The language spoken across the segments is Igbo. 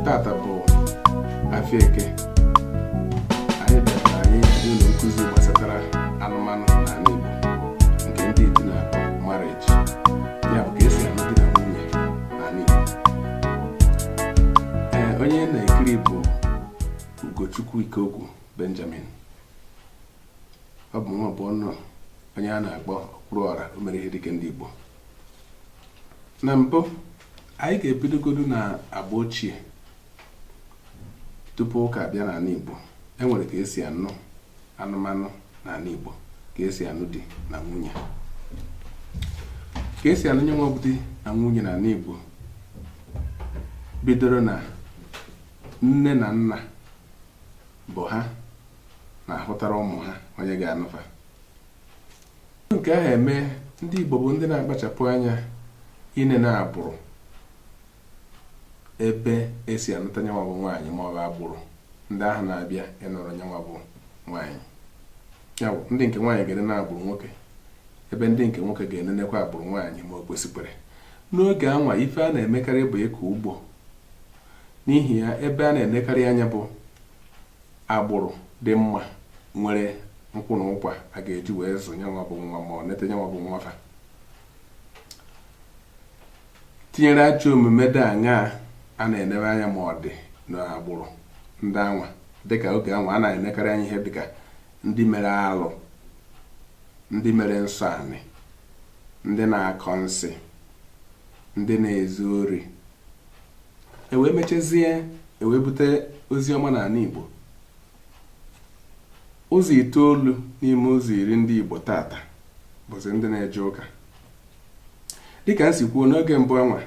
tata bụ afịa eke anyị ga na-enye unu nkụzi gbasatara anụmanụ n'anị Igbo nke ndị oyibo na-akpọ marriage ya bụ ka esi anụ di na nwunye n'anị Igbo ee onye na-ekiri bụ Ugochukwu Ikeokwu Benjamin ọ bụ nwa bụ ọnụ onye a na-akpọ okwuru ọra o mere ihe dike ndị Igbo na mbụ anyị ga-ebidogodu na agba ochie tupu ụka abịa n'anị Igbo e nwere ka esi anụ anụmanụ n'anị Igbo ka esi anụ di na nwunye ka esi anụ nyanwa bụ di na nwunye n'anị Igbo bidoro na nne na nna bụ ha na-ahụtara ụmụ ha onye ga-anụ fa nke ahụ eme ndị Igbo bụ ndị na-akpachapụ anya ine na agbụrụ ebe esi anụta nyanwa bụ nwaanyị ma ọ bụ agbụrụ ndị ahụ na-abịa ịnụrụ nyanwa bụ nwaanyị ya bụ ndị nke nwaanyị ga-ene na agbụrụ nwoke ebe ndị nke nwoke ga-enenekwa agbụrụ nwaanyị ma o kwesịkwere n'oge anwa ife a na-emekarị bụ ịkọ ugbo N'ihi ya, ebe a na-enekarị anya bụ agbụrụ dị mma nwere nkwụ na ụkwa a ga-eji wee zụ nyanwa bụ nwa ma ọ nete nyanwa bụ nwa fa tinyere ajọ omume dị aṅaa a na-enebe anya ma ọ dị n'agbụrụ ndị anwa dịka oge anwa a na-enekarị anya ihe dịka ndị mere alụ ndị mere nsọ anị ndị na-akọ nsị ndị na-ezu ori e wee mechazie e wee bute ozi ọma n'anị Igbo ụzọ itoolu n'ime ụzọ iri ndị Igbo tata bụzi ndị na-eje ụka dịka m si kwuo n'oge mbụ anwa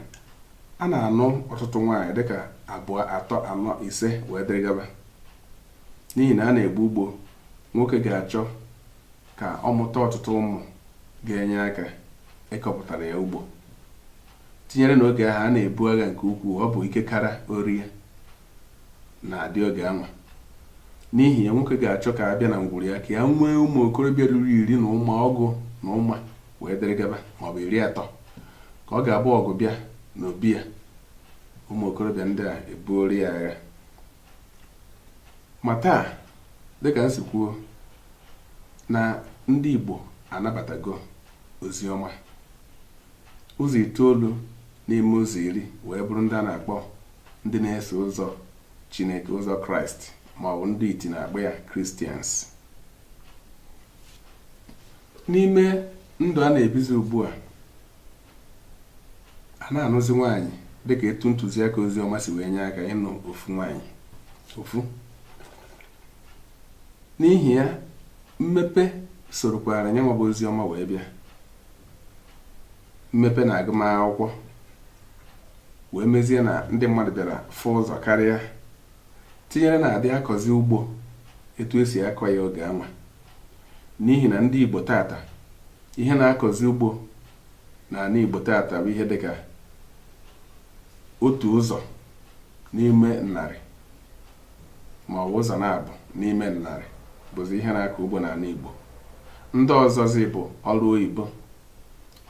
a na-anụ ọtụtụ nwaanyị dịka abụọ atọ anọ ise wee dịrị gaba n'ihi na a na-egbu ugbo nwoke ga-achọ ka ọ mụta ọtụtụ ụmụ ga-enye aka ịkọpụtara ya ugbo tinyere na oge ahụ a na-ebu agha nke ukwuu ọ bụ ike kara o rie na-adị oge anwa n'ihi ya nwoke ga-achọ ka a bịa na ngwụrụ ya ka ya nwee ụmụ okorobịa ruru iri na ụma ọgụ na ụma wee dịrị gaba maọbụ iri atọ ka ọ ga-abụ ọgụ bịa n'obi ya ụmụ okorobịa ndị a ebuoro ya agha ma taa dịka m si kwuo na ndị Igbo anabatago ozi ọma ụzọ itoolu n'ime ụzọ iri wee bụrụ ndị a na-akpọ ndị na-eso ụzọ Chineke ụzọ Kraịst ma ọ bụ ndị iti na-akpọ ya Kristians n'ime ndụ a na-ebizi ugbu a a na-anụzi nwaanyị dịka etu ntụziaka ozi ọma si wee nye aka ịnụ ofu nwaanyị ofu n'ihi ya mmepe sorokwara ihe nwa bụ ozi ọma wee bịa mmepe na agụmakwụkwọ wee mezie na ndị mmadụ bịara fụ ụzọ karịa tinyere na adị akọzi ugbo etu esi akọ ya oge anwa n'ihi na ndị Igbo taata ihe na-akọzi ugbo n'ana Igbo taata bụ ihe dịka otu ụzọ n'ime narị ma ọ bụ ụzọ naabọ n'ime narị bụzi ihe na-akọ ugbo n'ana Igbo ndị ọzọzi bụ ọrụ oyibo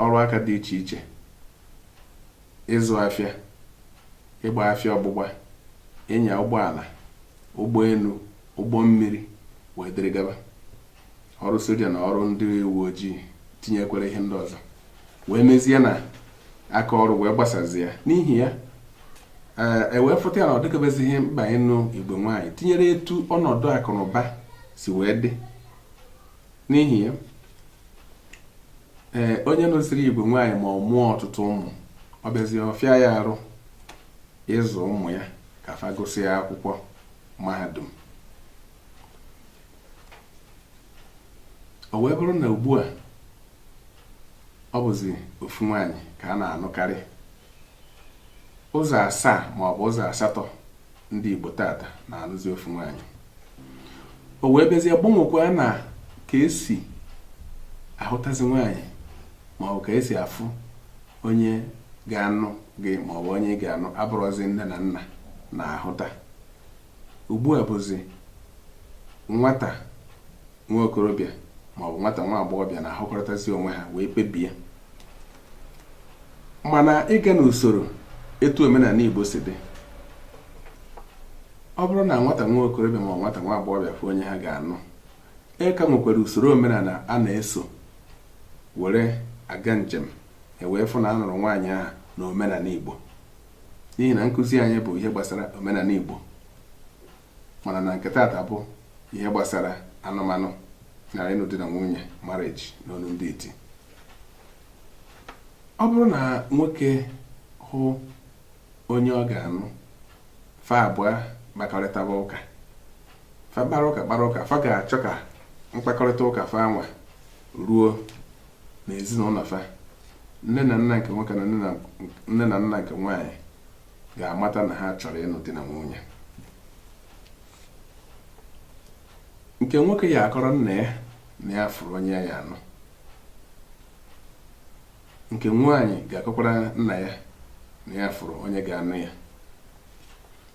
ọrụ aka dị iche iche ịzụ afịa ịgba afịa ọgbụgba ịnya ụgbọala ụgbọenu ụgbọ mmiri wee dịrị gaba ọrụ soja na ọrụ ndị uwe ojii tinyekwara ihe ndị ọzọ wee mezie na aka ọrụ wee gbasazịa n'ihi ya ewee eh, e fụta ya na ọ dịkebezighị mkpa ịnụ igwe nwaanyị tinyere etu ọnọdụ akụ na ụba si wee dị n'ihi ya ee eh, onye nụzịrị igwe nwaanyị ma ọ mụọ ọtụtụ ụmụ ọ bịazie ọ fịa ya arụ ịzụ ụmụ ya ka fa gụsịa akwụkwọ mahadum o wee bụrụ na ugbu a ọ bụzi ofu nwaanyị ka a na-anụkarị ụzọ asaa ma ọ bụ ụzọ asatọ ndị Igbo taata na-anụzi ofu nwaanyị o wee bịazie gbanwekwa na ka esi ahụtazi nwaanyị ma ọ bụ ka esi afụ onye ga-anụ gị ma ọ bụ onye ị ga-anụ abụrọzi nne na nna na-ahụta ugbu a bụzi nwata nwa okorobịa ma ọ bụ nwata nwa agbọghọbịa na-ahụkọrịtazi onwe ha wee kpebie mana ịga n'usoro etu omenana Igbo si dị ọ bụrụ na nwata nwa okorobịa ma ọ bụ nwata nwa agbọghọbịa fụ onye ha ga-anụ e ka nwekwara usoro omenana a na-eso were aga njem ewee fụ na a nụrụ nwaanyị ahụ na omenana Igbo n'ihi na nkụzi anyị bụ ihe gbasara omenana Igbo mara na nke taata bụ ihe gbasara anụmanụ na ịnụ di na nwunye marriage n'olu ndị iti ọ bụrụ na nwoke hụ onye ọ ga-anụ fa abụọ kpakọrịtaba ụka fa kpara ụka kpara ụka fa ga-achọ ka mkpakọrịta ụka fa anwa ruo na ezinụnọ fa nne na nna nke nwoke na nne na nna nke nwaanyị ga-amata na ha chọrọ ịnụ di na nwunye nke nwoke ga-akọrọ nna ya na ya fụrụ onye ya ga-anụ nke nwaanyị ga-akọkwara nna ya na ya fụrụ onye ga-anụ ya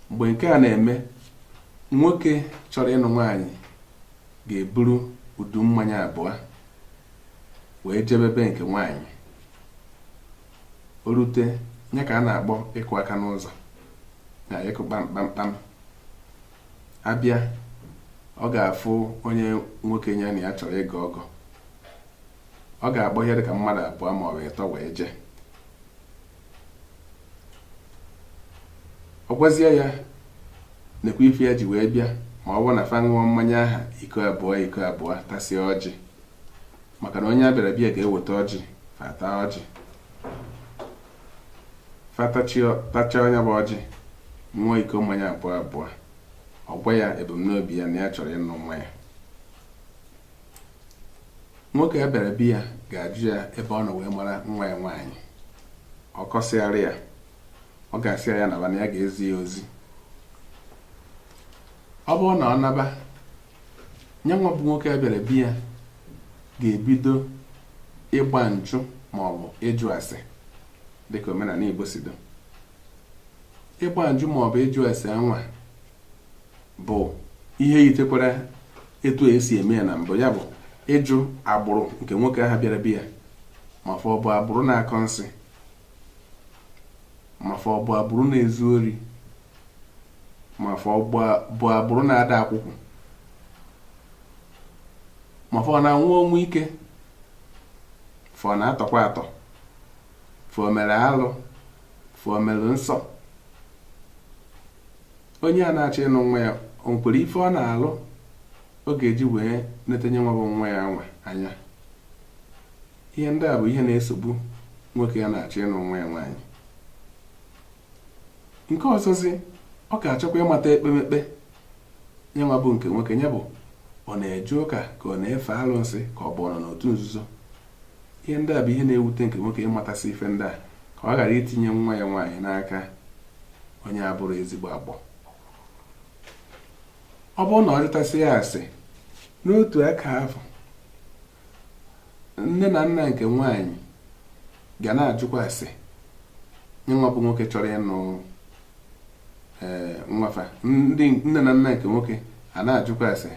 mgbe nke a na-eme nwoke chọrọ ịnụ nwaanyị ga-eburu udu mmanya abụọ wee jebe be nke nwaanyị o rute ya ka a na-akpọ ịkụ aka n'ụzọ na ịkụ kpam kpam kpam abịa ọ ga-afụ onye nwoke ya na ya chọrọ ịgọ ọgọ ọ ga-akpọ ihe dịka mmadụ abụọ ma ọ bụ ịtọ wee jee ọ gwazie ya nekwa ife ya ji wee bịa ma ọ bụrụ na fa ṅụọ mmanya aha iko abụọ iko abụọ tasie ọjị maka na onye a bịara be ya ga-eweta ọjị fa taa ọjị fa tachaa nye bụ ọjị ṅụọ iko mmanya abụọ abụọ ọ gwa ya ebumnobi ya na ya chọrọ ịnụ nwa ya nwoke a bịara be ya ga-ajụ ya ebe ọ nọ wee mara nwa ya nwaanyị ọ kọsịara ya ọ ga-asị ya naba na ya ga-ezi ya ozi ọ bụrụ na ọ naba nye nwa bụ nwoke a bịara be ya ga-ebido ịgba njụ ma ọ bụ ịjụ ase dịka omenanị Igbo si do ịgba njụ ma ọ bụ ịjụ ase anwa bụ ihe yitekwara etu a e si eme ya na mbụ ya bụ ịjụ agbụrụ nke nwoke ahụ bịara be ya ma fọ bụ agbụrụ na-akọ nsị ma fọ bụ agbụrụ na-ezu ori ma fọ bụ agbụrụ na-ada akwụkwụ ma fọ na-anwụ ọnwụ ike fọ na-atọkwa atọ fọ mere alụ fọ mere nsọ onye a na-achọ ịnụ nwa ya o nwekwara ife ọ na-alụ ọ ga-eji wee neta nye nwa bụ nwa ya anwa anya ihe ndị a bụ ihe na-esogbu nwoke a na-achọ ịnụ nwa ya nwaanyị nke ọzọzị ọ ga-achọkwa ịmata ekpemekpe nye nwa bụ nke nwoke nye bụ ọ na-eje ụka ka ọ na-efe alụsị ka ọ bụ ọ nọ n'otu nzuzo Ihe ndị a bụ ihe na-ewute nke nwoke ịmatasị ife ndị a ka ọ ghara itinye nwa ya nwaanyị n'aka onye abụrọ ezigbo agbọ ọ bụrụ na ọ jụtasịa asị n'otu aka ahụ nne na nna nke nwaanyị ga na-ajụkwa asị ya nwa bụ nwoke chọrọ ịnụ eh, nwa fa ndị nne na nna nke nwoke a na-ajụkwa asị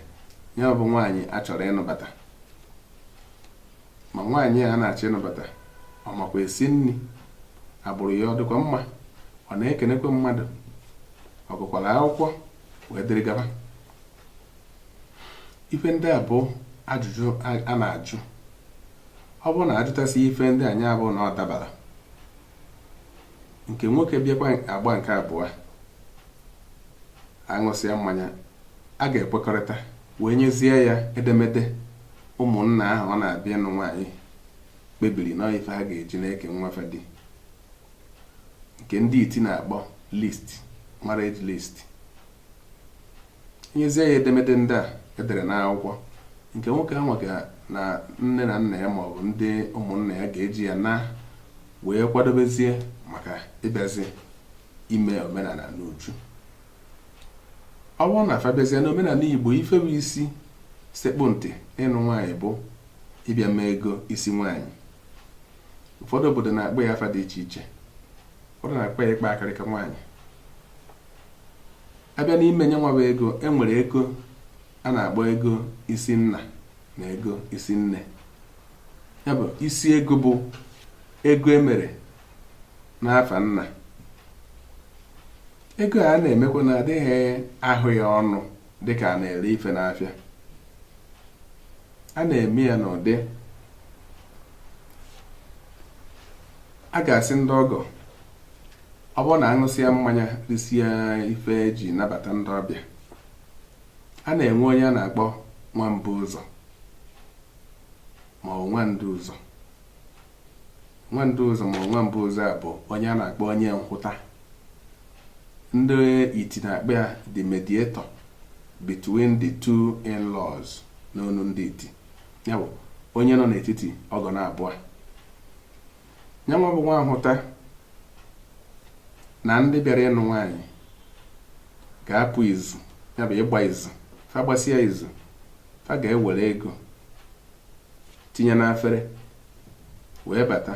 ya bụ nwaanyị a chọrọ ịnụbata ma nwaanyị a na-achọ ịnụbata ọ makwa esi nni agbụrụ ya ọ dịkwa mma ọ na-ekenekwa mmadụ ọ gụkwara akwụkwọ wee dịrị gaba ife ndị a bụ ajụjụ a na-ajụ ọ bụrụ na ajụtasịa ife ndị a ya abụ na ọ dabara nke nwoke bịakwa agba nke abụa aṅụsịa mmanya a ga-ekwekọrịta wee nyezie ya edemede ụmụnna ahụ ọ na-abịa ịnụ nwaanyị kpebiri na ife ha ga-eji na-eke nwa fa di nke ndị iti na-akpọ list marriage list e nyezie ya edemede ndị a edere n'akwụkwọ nke nwoke ahụ nwa na nne na nna ya maọbụ ndị ụmụnna ya ga-eji ya naa wee kwadobezie maka ịbịazi ime omenala n'uju ọ bụrụ na fa bịazie n'omenala igbo ife bụ isi sekpụ ntị ịnụ nwaanyị bụ ịbịa mee ego isi nwaanyị ụfọdụ obodo na-akpọ ya afa dị iche iche ụfọdụ na-akpọ ya ịkpa akịrịka nwaanyị a bịa n'ime ya nwa bụ ego enwere ego a na-akpọ ego isi nna na ego isi nne ya bụ isi ego bụ ego emere n'afa nna ego a na-emekwa na adịghị ahụ ya ọnụ dịka a na-ere ife n'afịa a na-eme ya n'ụdị a ga-asị ndị ọgọ ọ bụrụ na aṅụsịa mmanya risịa ife eji nabata ndị ọbịa a na-enwe onye a na-akpọ nwa mbụ ụzọ ma ọ nwa ndu ụzọ nwa ndu ụzọ ma ọ nwa mbụ ụzọ a bụ onye a na-akpọ onye nhụta ndị iti na-akpọ ya the mediator between the two in-laws n'ọnụ ndị iti ya bụ onye nọ n'etiti ọgọ naabụa ya nwa bụ nwa nhụta na ndị bịara ịnụ nwaanyị ga-apụ izu ya bụ ịgba izu fa gbasịa izu fa ga-ewere ego tinye n'afere wee bata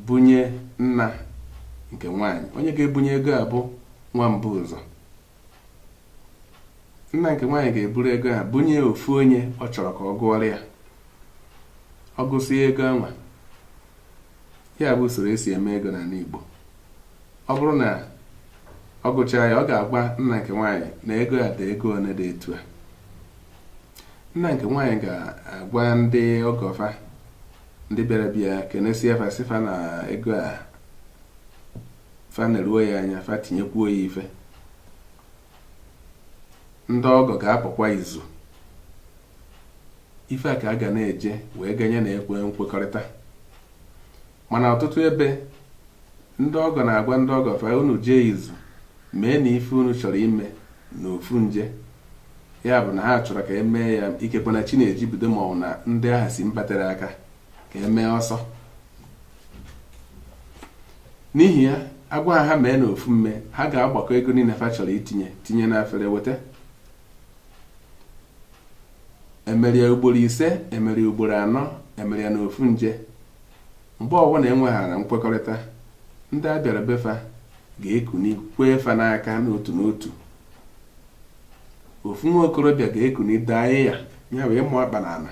bunye nna nke nwaanyị onye ga-ebunye ego a bụ nwa mbu ụzọ nna nke nwaanyị ga-eburu ego anwa bunye ofu onye ọ chọrọ ka ọ gụọrọ ya ọ gụsịa ego anwa ya bụ usoro esi eme ego n'anị Igbo ọ bụrụ na ọ gụchaa ya ọ ga-agwa nna nke nwaanyị na ego a dị ego one dị etu a nna nke nwaanyị ga-agwa ndị ọgọ fa ndị bịara bịa kenesie fa sị fa na ego a fa na-eruo ya anya fa tinyekwuo ya ife ndị ọgọ ga-apụkwa izu ife a ka a ga na-eje wee ganye na ekwe nkwekọrịta mana ọtụtụ ebe ndị ọgọ na-agwa ndị ọgọ fa unu jee izu mee na ife unu chọrọ ime na ofu nje ya bụ na ha chọrọ ka emee ya ikekwe na chi na-eji bido maọbụ na ndị ahụ si mba tere aka ka emee ọsọ n'ihi ya agwa ha mee na ofu mme ha ga-agbakọ ego niine fa chọrọ itinye tinye n'afere weta emere ya ugboro ise emere ya ugboro anọ emere ya na ofu nje mgbe ọbụna enweghara nkwekọrịta ndị a bịara befa ga-ekuni kwee fa n'aka n'otu n'otu ofu nwa okorobịa ga-ekuni daa iya ya bụ ịmụ akpa na ana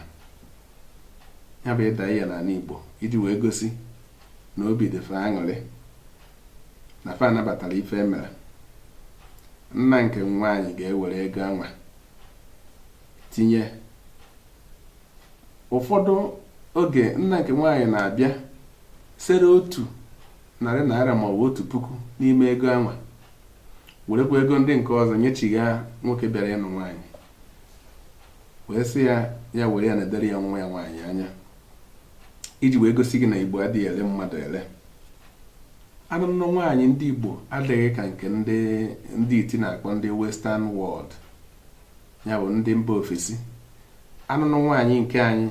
ya bụ ịda iya n'anị Igbo iji wee gosi na obi dị fa aṅụrị na fa anabatara ife emere nna nke nwaanyị ga-ewere ego anwa tinye ụfọdụ oge nna nke nwaanyị na-abịa sere otu narị naịra maọbụ otu puku n'ime ego anwa, werekwa ego ndị nke ọzọ nyechigha nwoke bịara ịnụ nwaanyị, wee sị ya ya were ya na-elere ya nwa ya nwaanyị anya iji wee gosi gị na Igbo adịghị ele mmadụ ele. Anụnụ nwaanyị ndị Igbo adịghị ka nke ndị ndị iti na-akpọ ndị western world, ya bụ ndị mba ofesi. Anụnụ nwaanyị nke anyị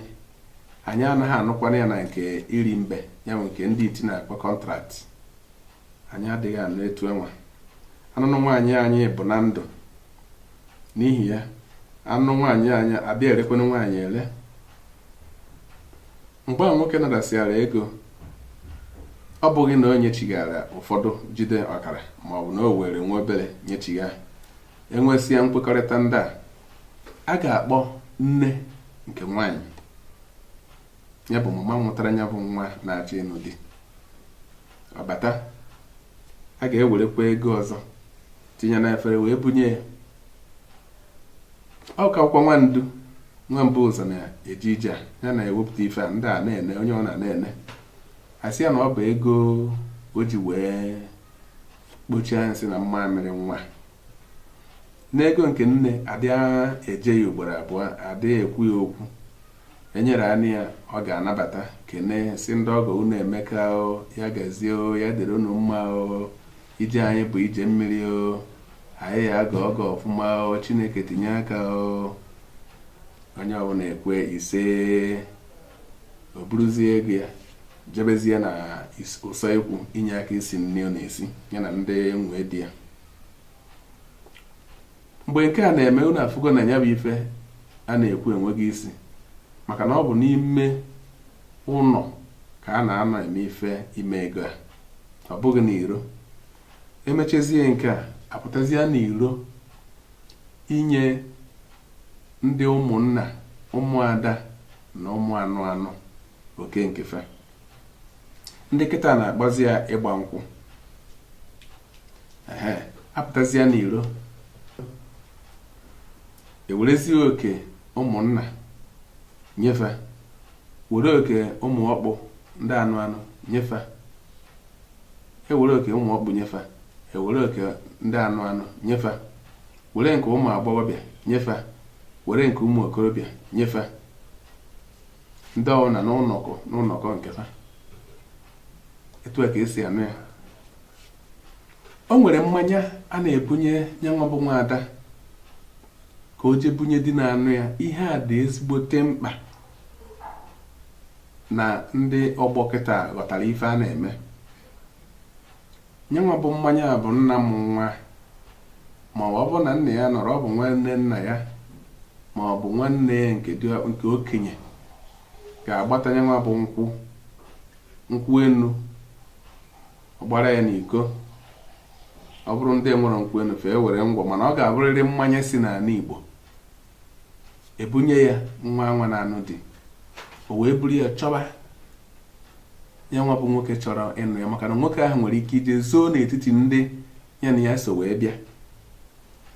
anyị anaghị anụkwanụ ya na nke iri mbe ya bụ nke ndị iti na-akpọ kọntraktị anyị adịghị anụ etu anwa anụnụ nwaanyị anyị bụ na ndụ n'ihi ya anụnụ nwaanyị anyị adịghị erekwanụ nwaanyị ere mgbe nwoke natasịara ego ọ bụghị na o nyechighara ụfọdụ jide ọkara maọbụ na o were nwa obere nyechigha enwesịa nkwekọrịta ndị a a ga-akpọ nne nke nwaanyị ya bụ mama nwụtara ya bụ nwa na-achọ ịnụ di ọ bata a ga-ewerekwa ego ọzọ tinye na efere wee bunye ya ọ kakwụkwa nwaada nwa bu ụzọ na-eje ije a ya na-ewepụta ife a ndị a na-ene onye ọ na na-ene a sị ya na ọ bụ ego o ji wee kpochie anya nsị na mmamịrị nwa na ego nke nne adị eje ya ugboro abụọ adị ekwu ya okwu e nyere anị ya ọ ga-anabata kene sị ndị ọgọ unu emeka o ya gazie o ya dịrị unu mma o ije anyị bụ ije mmiri o anyị ya aga ọgọ ọfụma o chineke tinye aka o onye ọbụla ekwe ise o buruzie ego ya jebezie na usoekwu inye aka isi nni ọ na-esi ya na ndị nwunye di ya mgbe nke a na-eme unu afụgo na nya bụ ife a na-ekwu enweghị isi maka na ọ bụ n'ime ụnọ ka a na-anọ eme ife ime ego a ọ bụghị n'iro e mechazie nke a a pụtazie n'iro inye ndị ụmụnna ụmụada na ụmụ anụ anụ oke nke fa ndị kịta na-akpọzi ya ịgba nkwụ ehe a pụtazia n'iro e werezie oke ụmụnna nye fa were oke ụmụ ọkpụ ndị anụ anụ nye fa e were oke ụmụ ọkpụ nye fa e were oke ndị anụ anụ nye fa were nke ụmụ agbọghọbịa nye fa were nke ụmụ okorobịa nye fa ndị ọbụla n'ụlọkọ n'ụlọkọ nke fa etu a ka e si eme ya o nwere mmanya a na-ebunye nyanwa bụ nwaada ka o jee bunye di na-anụ ya ihe a dị ezigbote mkpa na ndị ọgbọ kịta ghọtara ife a na-eme nyenwa bụ mmanya a bụ nna mụ nwa ma ọ bụ ọ bụrụ na nna ya anọrọ ọ bụ nwanne nna ya ma ọ bụ nwanne ya nke okenye ga-agbata nyenwa bụ nkwụ nkwụ enu ọ gbara ya n'iko ọ bụrụ ndị enwerọ nkwụ enu fa ewere ngwọ mana ọ ga-abụrịrị mmanya si n'anị Igbo e bunye ya nwa anwa na-anụ di o wee buru ya chọba nyanwa bụ nwoke chọrọ ịnụ ya maka na nwoke ahụ nwere ike ije zoo n'etiti ndị ya na ya so wee bịa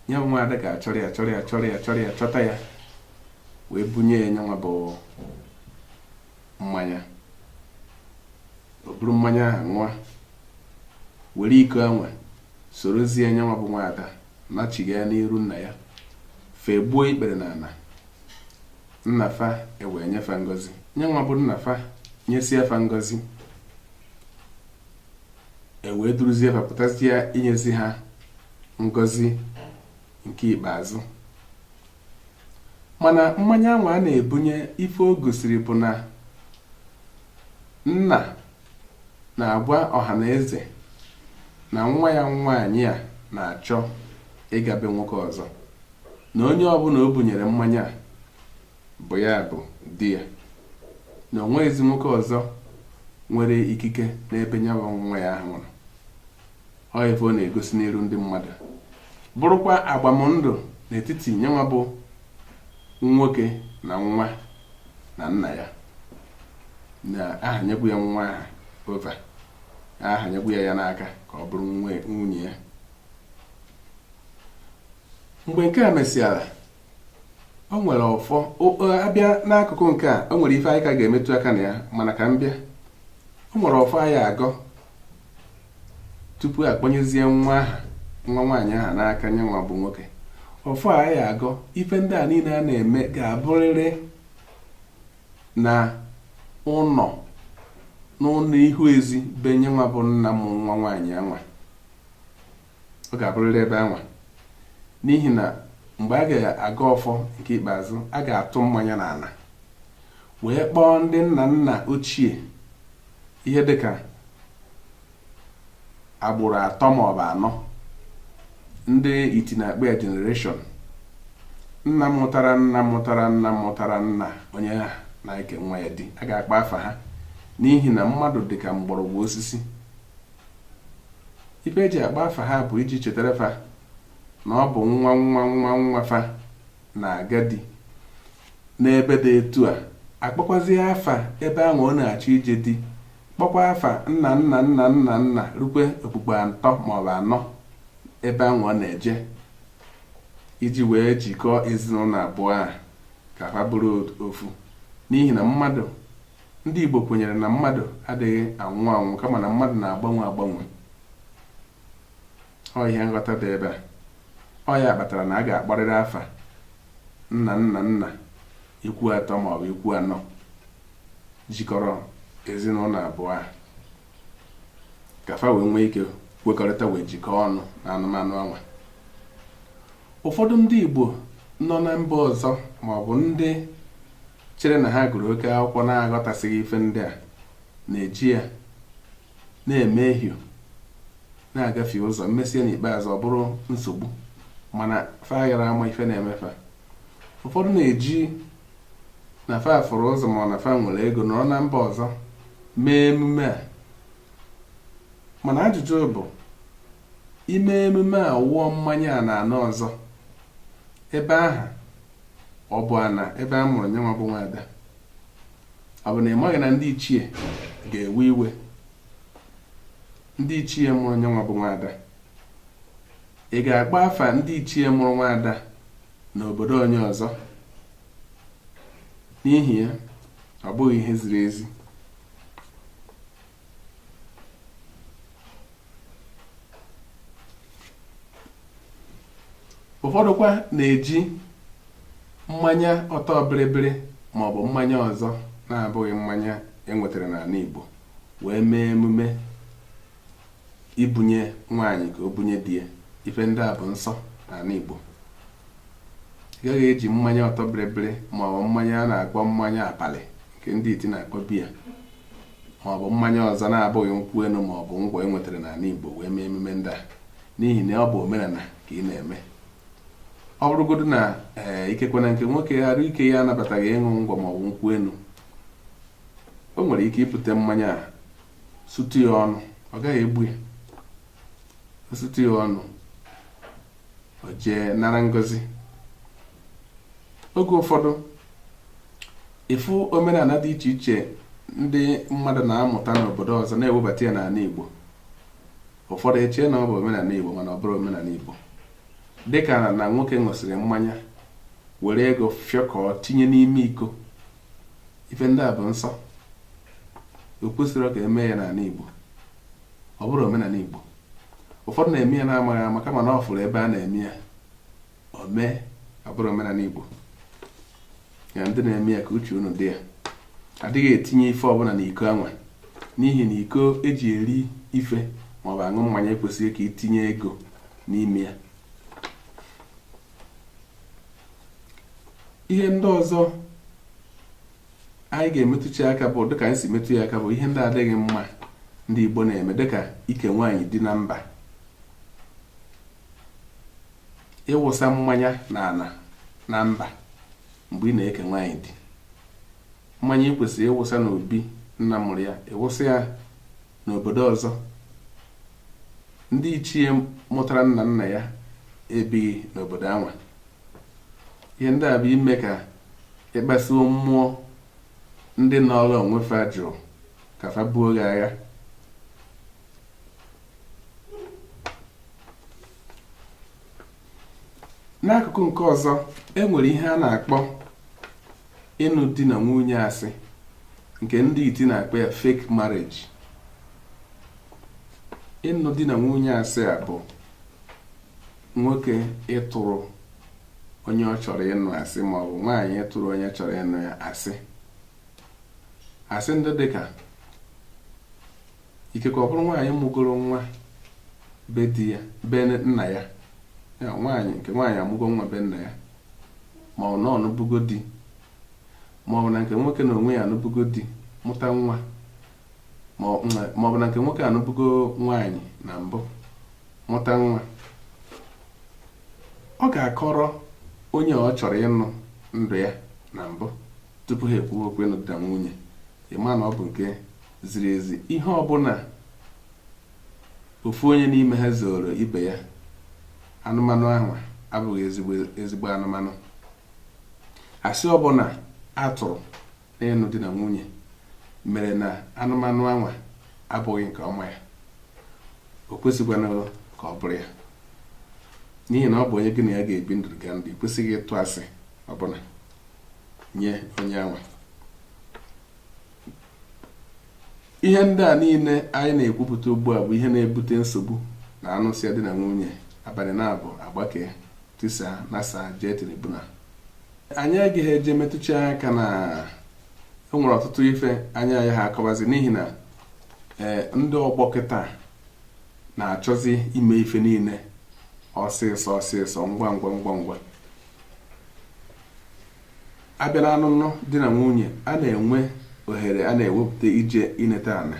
ya bụ nwaada ga-achọrọ ya chọrọ ya chọrọ ya chọrọ ya chọta ya wee bunye ya nyanwa bụ mmanya o buru mmanya ahụ ṅụọ were iko anwa sorozie nyanwa bụ nwaada nachiga ya n'iru nna ya fa egbuo ikpere n'ana nna fa ewee nye fa ngozi nye nwa bụ nna fa nyesịa fa ngozi ewee duruzie fa pụtazie inyezi ha ngozi nke ikpeazụ mana mmanya anwa a na-ebunye ife o gosiri bụ na nna na-agwa ọha na eze na nwa ya nwaanyị a na-achọ ịga be nwoke ọzọ na onye ọbụla o bunyere mmanya a bụ ya bụ di ya na o nweghịzi nwoke ọzọ nwere ikike n'ebe nyenwa nwa ya ahụ nọ ọ ife ọ na-egosi n'iru ndị mmadụ bụrụkwa agbamndụ n'etiti nyenwa bụ nwoke na nwa na nna ya na a hanyegwo ya nwa aha over a hanyegwo ya ya n'aka ka ọ bụrụ nwunye ya mgbe nke a mesịara o nwere ọfọ a bịa n'akụkụ nke a o nwere ife anyị ka ga-emetụ aka na ya mana ka m bịa o nwere ọfọ a ya-agọ tupu a kpọnyezie nwa aha nwa nwaanyị aha n'aka nye nwa bụ nwoke ọfọ a ya-agọ ife ndị a niile a na-eme ga-abụrịrị na ụnọ n'ụnọ ihu ezi be nye nwa bụ nna m nwa nwaanyị anwa ọ ga-abụrịrị ebe anwa n'ihi na mgbe a ga-agọ ọfọ nke ikpeazụ a ga-atụ mmanya n'ana wee kpọọ ndị nna nna ochie ihe dịka agbụrụ atọ maọbụ anọ ndị iti na-akpọ ya generation nna mụtara nna mụtara nna mụtara nna onye aha na-eke nwa ya di a ga-akpọ afa ha n'ihi na mmadụ dị ka mgbọrọgwụ osisi ife e ji akpọ afa ha bụ iji chetara fa na ọ bụ nwa nwa nwa nwa fa na-aga di n'ebe dị etu a a kpọkwazie afa ebe anwa ọ na-achọ ije di kpọkwa afa nna nna nna nna nna rukwe okpukpu atọ maọbụ anọ ebe anwa ọ na-eje iji wee jikọọ ezinụnọ abụọ a ka fa bụrụ ofu n'ihi na mmadụ ndị Igbo kwenyere na mmadụ adịghị anwụ anwụ kama na mmadụ na-agbanwe agbanwe ọ ihe nghọta dị ebe a ọ ya kpatara na a ga-akpọrịrị afa nna nna nna ikwu atọ ma ọ bụ ikwu anọ jikọrọ ezinụnọ abụọ a ka fa wee nwee ike kwekọrịta wee jikọọ ọnụ na anụmanụ anwa ụfọdụ ndị Igbo nọ na mba ọzọ ma ọ bụ ndị chere na ha gụrụ oke akwụkwọ na-aghọtasịghị ife ndị a na-eji ya na-emehie na-agafie ụzọ emesịa n'ikpeazụ ọ bụrụ nsogbu mana fa aghara ama ife na-eme fa ụfọdụ na-eji na fa fụrụ ụzọ ma na fa nwere ego nọrọ na mba ọzọ mee emume a mana ajụjụ bụ ime emume a wụọ mmanya a n'ana ọzọ ebe ahụ ọ bụ ana ebe a mụrụ nyanwa bụ nwaada ọ bụ na ị maghị na ndị ichie ga-ewe iwe ndị ichie mụrụ nyanwa bụ nwaada ị ga-akpọ afa ndị ichie mụrụ nwaada n'obodo onye ọzọ n'ihi ya ọ bụghị ihe ziri ezi ụfọdụkwa na-eji mmanya ọtọ bịrịbịrị maọbụ mmanya ọzọ na-abụghị mmanya e nwetara n'ana Igbo wee mee emume ibunye nwaanyị ka o bunye di ya ife ndị a bụ nsọ n'ana Igbo ị gaghị eji mmanya ọtọ bịrịbịrị maọbụ mmanya a na-akpọ mmanya abalị nke ndị iti na-akpọ biya ma ọ bụ mmanya ọzọ na-abụghị nkwụ enu ma ọ bụ ngwọ e nwetara n'ana Igbo wee mee emume ndị a n'ihi na ọ bụ omenana ka ị na-eme ọ bụrụgodu na ee eh, ikekwe na nke nwoke arụ ike ya anabataghị ịṅụ ngwọ ma ọ bụ nkwụ enu o nwere ike ibute mmanya a sutu ya ọnụ ọ gaghị egbu ya sutu ya ọnụ o jee nara ngozi oge ụfọdụ ị fụ omenana dị iche iche ndị mmadụ na-amụta n'obodo ọzọ na-ewebata ya n'ana Igbo ụfọdụ echee na ọ bụ omenana Igbo mana ọ bụrọ omenana Igbo dịka na nwoke ṅụsịrị mmanya were ego fịọkọọ tinye n'ime iko ife ndị a bụ nsọ o kwesirọ ka e mee ya n'ana Igbo ọ bụrọ omenana Igbo ụfọdụ na-eme ya na-amaghị ama kama na ọ fụrụ ebe a na-eme ya o mee ọ bụrọ omenana Igbo ya ndị na-eme ya ka uche unu dị ya adịghị etinye ife ọbụna n'iko anwa n'ihi na iko eji eri ife maọbụ aṅụ mmanya ekwesịghị ka itinye ego n'ime ya ihe ndị ọzọ anyị ga-emetụchi aka bụ dịka anyị si metụ ya aka bụ ihe ndị adịghị mma ndị Igbo na-eme dịka ike nwaanyị di na mba ịwụsa mmanya n'ana na mba mgbe ị na-eke nwaanyị di mmanya ị kwesịrị ịwụsa n'obi nna mụrụ ya ịwụsa ya n'obodo ọzọ ndị ichie mụtara nna nna ya ebighị n'obodo anwa ihe ndị a bụ ime ka ịkpasuo mmụọ ndị nọọrọ onwe fa jụụ ka fa buo gị agha n'akụkụ nke ọzọ e nwere ihe a na-akpọ ịnụ di na nwunye asị nke ndị iti na-akpọ ya fake marriage ịnụ di na nwunye asị a bụ nwoke ịtụrụ onye ọ chọrọ ịnụ asị ma ọ bụ nwaanyị ịtụrụ onye chọrọ ịnụ ya asị asị ndị dịka ikekwe ọ bụrụ nwaanyị mụgoro nwa be di ya be nna ya ya nwaanyị nke nwaanyị amụgo nwa be nna ya ma ọ bụ na ọ nụbugo di ma ọ bụ na nke nwoke na onwe ya anụbugo di mụta nwa ma ọ bụ na nke nwoke anụbugo nwaanyị na mbụ mụta nwa ọ ga-akọrọ onye ọ chọrọ ịnụ ndụ ya na mbụ tupu ha ekwuwe okwu ịnụ di na nwunye ịma na ọ bụ nke ziri ezi ihe ọbụna ofu onye n'ime ha zooro ibe ya anụmanụ anwa abụghị ezigbo anụmanụ asị ọbụna a tụrụ N'ịnụ di na nwunye mere na anụmanụ anwa abụghị nke ọma ya, o kwesịkwanụ ka ọ bụrụ ya. N'ihi na ọ bụ onye gị na ya ga-ebi ndụ ga ndụ, ị kwesịghị ịtụ asị ọbụna nye onye anwa. Ihe ndị a niine anyị na-ekwupụta ugbu a bụ ihe na-ebute nsogbu na a nụsịa di na nwunye abanị naabọ agbakee. tisaa nasaa jee tribunal anyị agaghị eje metụcha aka na e nwere ọtụtụ ife anyị anaghị akọwazi n'ihi na eh, ndị ọgbọ kịta na-achọzi ime ife niile ọsịsọ ọsịsọ ngwa ngwa ngwa ngwa a bịa na ọnụnụ di na nwunye a na-enwe ohere a na-ewepụta ije ineta anị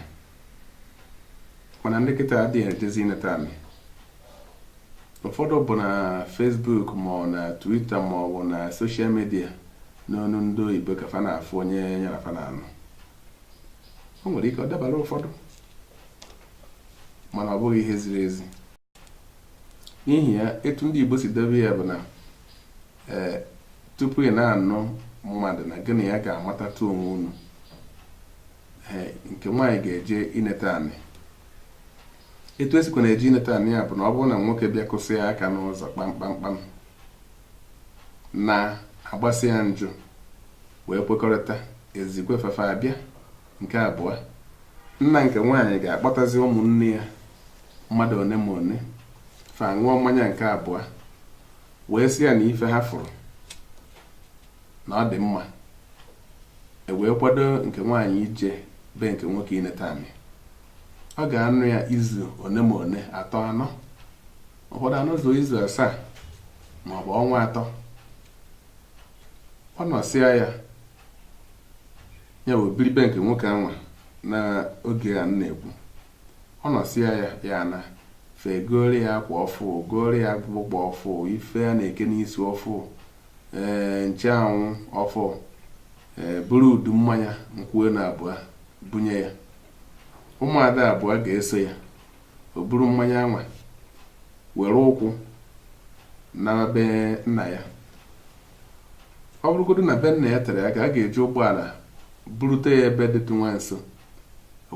mana ndị kịta adịghị ejezi ineta anị ụfọdụ bụ na Facebook ma ọ na Twitter ma ọ bụ na social media n'onu ndị oyibo ka fa na-afụ onye ya na fa na-anụ o nwere ike ọ dabara ụfọdụ mana ọ bụghị ihe ziri ezi n'ihi ya etu ndị Igbo si debe ya bụ na ee eh, tupu ị na-anụ mmadụ na gị na ya ga-amatatụ onwe unu eh, nke nwaanyị ga-eje ineta anị etu e sikwa na-eje ineta anị ya bụ na ọ bụrụ na nwoke bịa kụsịa aka n'ụzọ kpamkpamkpam na a gbasịa njụ wee kwekọrịta e zikwe fa fa abịa nke abụọ nna nke nwaanyị ga-akpọtazi ụmụnne ya mmadụ one ma one fa aṅụọ mmanya nke abụọ wee sị ya na ife ha fụrụ na ọ dị mma e wee kwado nke nwaanyị ije be nke nwoke ineta anị ọ ga-anọ ya izu one ma one atọ anọ ụfọdụ anọzu izu asaa ma ọ bụ ọnwa atọ ọ nọsịa ya ya wee biri be nke nwoke anwa n'oge a m na-ekwu Ọ nọsịa ya, ya ana. Fa egooro ya akwa ọfụụ, gooro ya akpụkpọ ọfụụ, ife a na-eke n'isi ọfụụ, ee ncheanwụ ọfụụ, ee buru udu mmanya nkwụ enu abụọ bunye ya. Ụmụada abụọ ga-eso ya. O buru mmanya anwa were ụkwụ nawa be nna ya. Ọ bụrụgodu na be nna ya tere aka, a ga-eji ụgbọala burute ya ebe dịtụ nwa nso.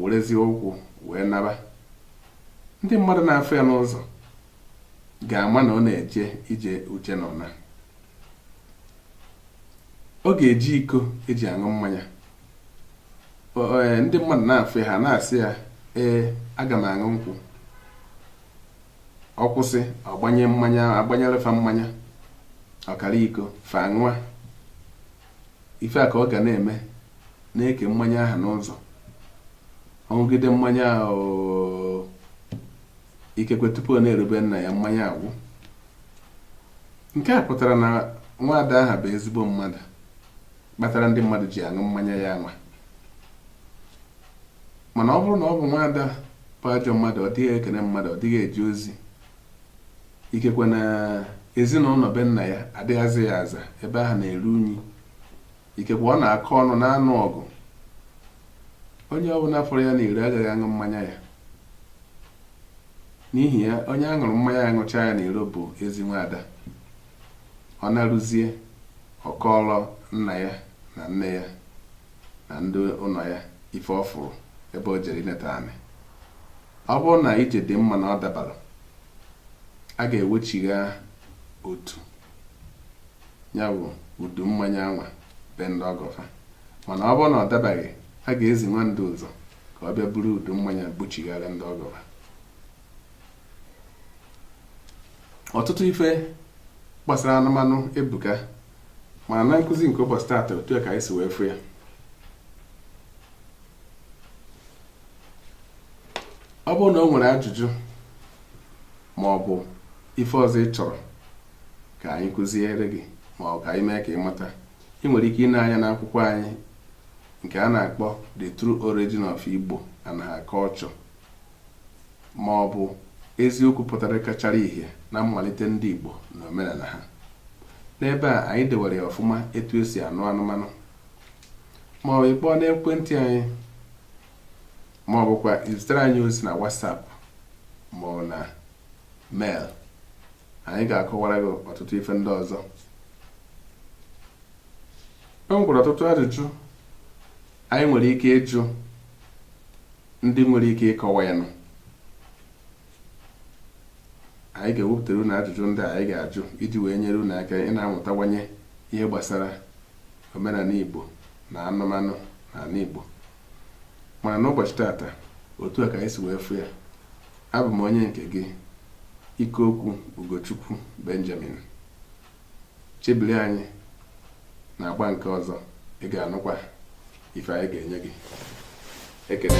werezie ụkwụ wee naba ndị mmadụ na-afụ ya n'ụzọ ga-ama na ọ na-eje ije uche na ọ na ọ ga-eji iko e ji aṅụ mmanya e, ndị mmadụ na-afụ ya ha na-asị ya ee aga m aṅụ nkwụ ọ kwụsị ọ gbanye mmanya agbanyere fa mmanya ọkara iko fa aṅụa Ife a ka ọ ga na-eme na-eke mmanya ahụ n'ụzọ ọ ṅụgide mmanya ahụ ikekwe tupu ọ na-eru be nna ya mmanya agwụ nke a pụtara na nwaada aha bụ ezigbo mmadụ kpatara ndị mmadụ ji aṅụ mmanya ya anwa mana ọ bụrụ na ọ bụ nwaada bụ ajọ mmadụ ọ dịghị ekene mmadụ ọ dịghị eje ozi ikekwe na ezi na ụnọ be nna ya adịghị aza ya aza ebe ahụ na-eru unyi ikekwe ọ na-akọ ọnụ na-anụ ọgụ onye ọbụla fụrụ ya n'iro agaghị aṅụ mmanya ya n'ihi ya onye a ṅụrụ mmanya ya ṅụcha ya n'iro bụ ezi nwaada ọ narụzie ọ kọọrọ nna ya na nne ya na ndị ụnọ ya ife ọ fụrụ ebe o jere ineta anị Ọ bụrụ na ije dị mma na ọ dabara, a ga-ewechigha otu ya bụ udu mmanya anwa be ndị ọgọ fa mana ọ bụrụ na ọ dabaghị a ga-ezi nwa ndu ụzọ ka ọ bịa buru udu mmanya buchighara ndị ọgọ fa ọtụtụ ife gbasara anụmanụ ebuka mana na nkụzi nke ụbọchị taata otu a ka anyị si wee fụ ya ọ bụrụ na o nwere ajụjụ ma ọ bụ ife ọzọ ị chọrọ ka anyị kụziere gị ma ọ bụ ka anyị mee ka ị mata ị nwere ike ịna anya n'akwụkwọ anyị nke a na-akpọ The True Origin of Igbo and Her Culture ma ọ bụ eziokwu pụtara kachara ihe na mmalite ndị Igbo na omenala ha n'ebe a anyị dewere ya ọfụma etu e si anụ anụmanụ ma ọ bụ ị kpọọ n'ekwentị anyị ma ọ bụkwa i zitere anyị ozi na WhatsApp ma ọ bụ na mail anyị ga-akọwara gị ọtụtụ ife ndị ọzọ e nwekwara ọtụtụ ajụjụ anyị nwere ike ịjụ ndị nwere ike ịkọwa ya nụ anyị ga-ewepụtara unu ajụjụ ndị anyị ga-ajụ iji wee nyere unu aka ịna-amụtawanye ihe gbasara omenala Igbo na anụmanụ n'ala Igbo mana n'ụbọchị tata otu a ka anyị si wee fụ ya abụ m onye nke gị Ikeokwu Ugochukwu Benjamin Chebiri anyị n'agba nke ọzọ ị ga-anụkwa ife anyị ga-enye gị ekele